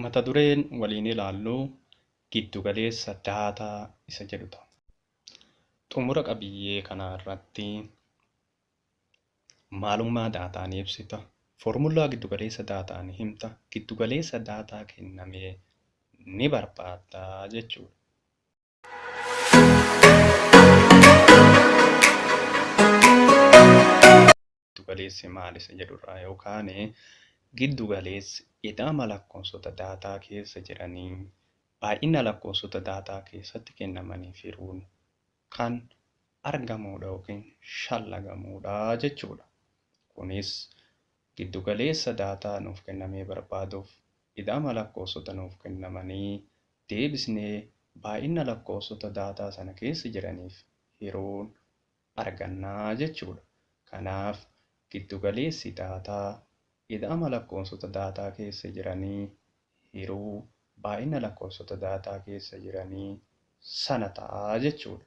Mata dureen waliin ilaallu giddugaleessa daataa isa jedhu ta'a. Xumura qabiyyee kanaa irratti maalummaa daataa ni ibsita, foormulaa giddugaleessa daataa ni himta, giddugaleessa daataa kenname ni barbaadda jechuudha. galeessi maal isa jedhurraa yoo kaane giddu galeessi ida'ama lakkoofsota daataa keessa jiranii baay'ina lakkoofsota daataa keessatti kennamanii firuun kan argamuudha yookiin shallagamuudha jechuudha. Kunis giddu galeessa daataa nuuf kennamee barbaaduuf ida'ama lakkoofsota nuuf kennamanii deebisnee baay'ina lakkoofsota daataa sana keessa jiraniif hiruun arganna jechuudha. Kanaaf, giddugaleessi daataa ida'ama lakkoofsota daataa keessa jiranii hiruu baay'ina lakkoofsota daataa keessa jiranii sana ta'a jechuudha.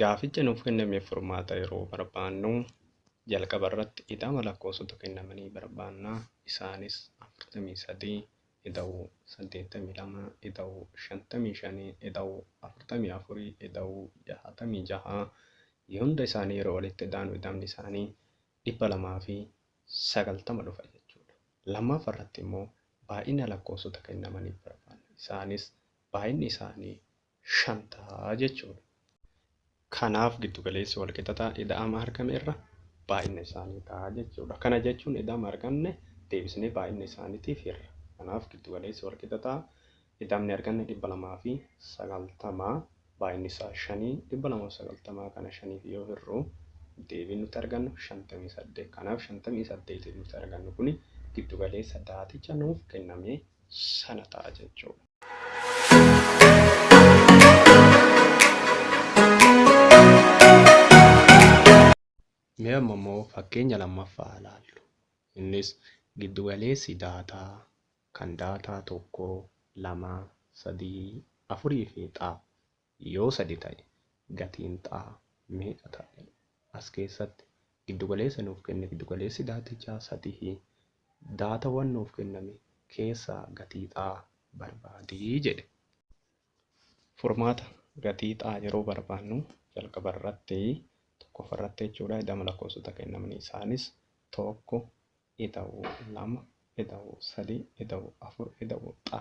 Gaaficha nuuf kennameef furmaata yeroo barbaannu jalqaba irratti ida'ama lakkoofsota kennamanii barbaanna. Isaanis 43, ida'uu 82, ida'uu 55, ida'uu 44, ida'uu 66. Hunda isaanii yeroo walitti ida'anu ida'amni isaanii 290 dhufa jechuudha. Lammaaffa irratti immoo baay'ina lakkoofsota kennamaniif barbaanna. Isaanis baay'inni isaanii 5 ta'a jechuudha. Kanaaf giddugaleessi walqixataa ida'ama argame irra baay'ina isaanii ta'a jechuudha. Kana jechuun ida'ama arganne deebisnee baay'ina isaaniitiif hirra. Kanaaf giddugaleessi walqixataa ida'amni arganne 290 baay'inni isaa 5 290 kana 5f yoo hirru deebiin nuti argannu 58. Kanaaf 58 nuti argannu kun giddugaleessa daaticha nuuf kenname sana ta'a jechuudha. Mee amma immoo fakkeenya lammaffaa ilaallu. Innis giddugaleessi daataa kan daataa tokko, lama, sadii, afurii fi xaa Yoo sadi ta'e gatiin xaa meeqa ta'a? As keessatti giddugaleessa nuuf kenne giddugaleessi daatichaa satihi daatawwan nuuf kenname keessaa gatii xaa barbaadi jedhe. Furmaata, Gatii xaa yeroo barbaannu jalqaba irratti tokkoffa irratti jechuudha ida'ama lakkoofsota kennamanii isaanis 1, ida'u lama, ida'u sadii, ida'u afur, ida'u xa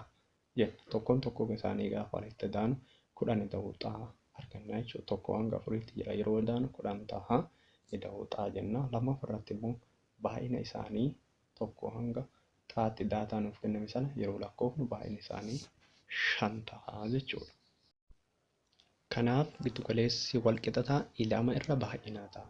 jenna. Tokkoon tokkoo isaanii gaafa walitti idaanu kudhan ida'u xa arganna jechuudha. Tokko hanga afuriitti jira yeroo idaanu kudhan taha ida'u xa jenna. Lammaffaa irratti immoo baay'ina isaanii tokko hanga xaatti daataa nuuf kenname sana yeroo lakkoofnu baay'ina isaanii shan taha jechuudha. Kanaaf giddugaleessi walqixataa ilama irra baay'inaa ta'a.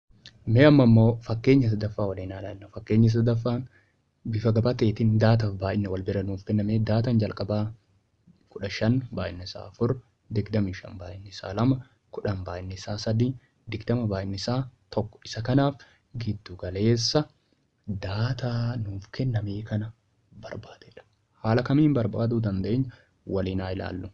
Mee amma immoo fakkeenya sadaffaa waliin haa ilaallu. Fakkeenyi sadaffaan bifa gabateetiin daataaf baay'ina wal bira nuuf kenname. Daataan jalqabaa kudha shan baay'inni isaa afur, digdamii shan baay'inni isaa lama, kudhan baay'inni isaa sadii, digdama baay'inni isaa tokko. Isa kanaaf giddu galeessa daataa nuuf kennamee kana barbaadedha. Haala kamiin barbaaduu dandeenya waliin haa ilaallu.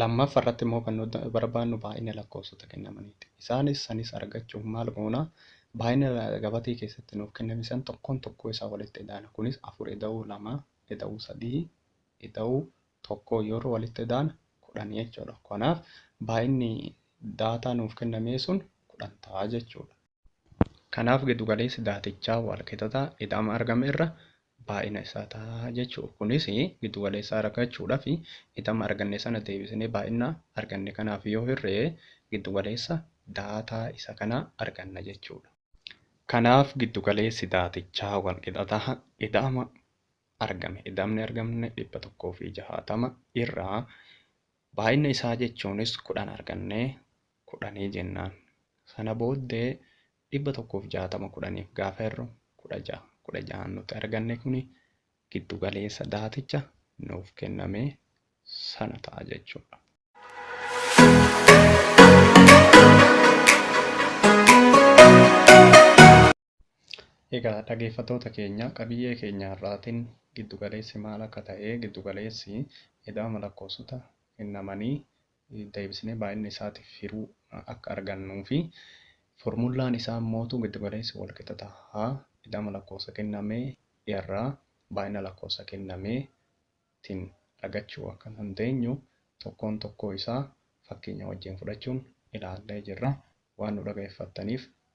Lammaffa irratti immoo kan nuti barbaannu baay'ina lakkoofsota kennamaniiti. Isaanis sanis argachuuf maal goona? Baay'ina gabatee keessatti nuuf kenname san tokkoon tokkoo isaa walitti idaana. Kunis afur ida'uu lama, ida'uu sadii, ida'uu tokkoo yeroo walitti idaana kudhan jechuudha. Kanaaf baay'inni daataa nuuf kennamee sun kudhan ta'a jechuudha. Kanaaf giddugaleessi daatichaa waalqixataa ida'ama argame irra baay'ina isaa ta'a jechuudha. Kunis giddugaleessaa argachuudhaaf ida'ama arganne sana deebisnee baay'ina arganne kanaaf yoo hirre giddugaleessa daataa isa kanaa arganna jechuudha. Kanaaf giddugaleessi daatichaa waalqixataa ida'ama argame ida'amni argamne 160 irraa baay'ina isaa jechuunis 10 argannee kudhanii jennaan. Sana booddee 160 kudhaniif gaafa hirru 16. 16n nuti arganne kuni giddu galeessa daaticha nuuf kenname sana ta'a jechuudha. Egaa dhageeffattoota keenya qabiyyee keenya har'aatiin giddugaleessi maal akka ta'ee giddugaleessi ida'ama lakkoofsota kennamanii deebisnee baay'inni isaatiif hiruu akka argannuu fi formullaan isaa immootu giddugaleessi walqixa ta'a ida'ama lakkoofsa kennamee irraa baay'ina lakkoofsa kennamee tiin argachuu akka dandeenyu tokkoon tokkoo isaa fakkeenya wajjiin fudhachuun ilaallee jirra waan nu dhagaeffattaniif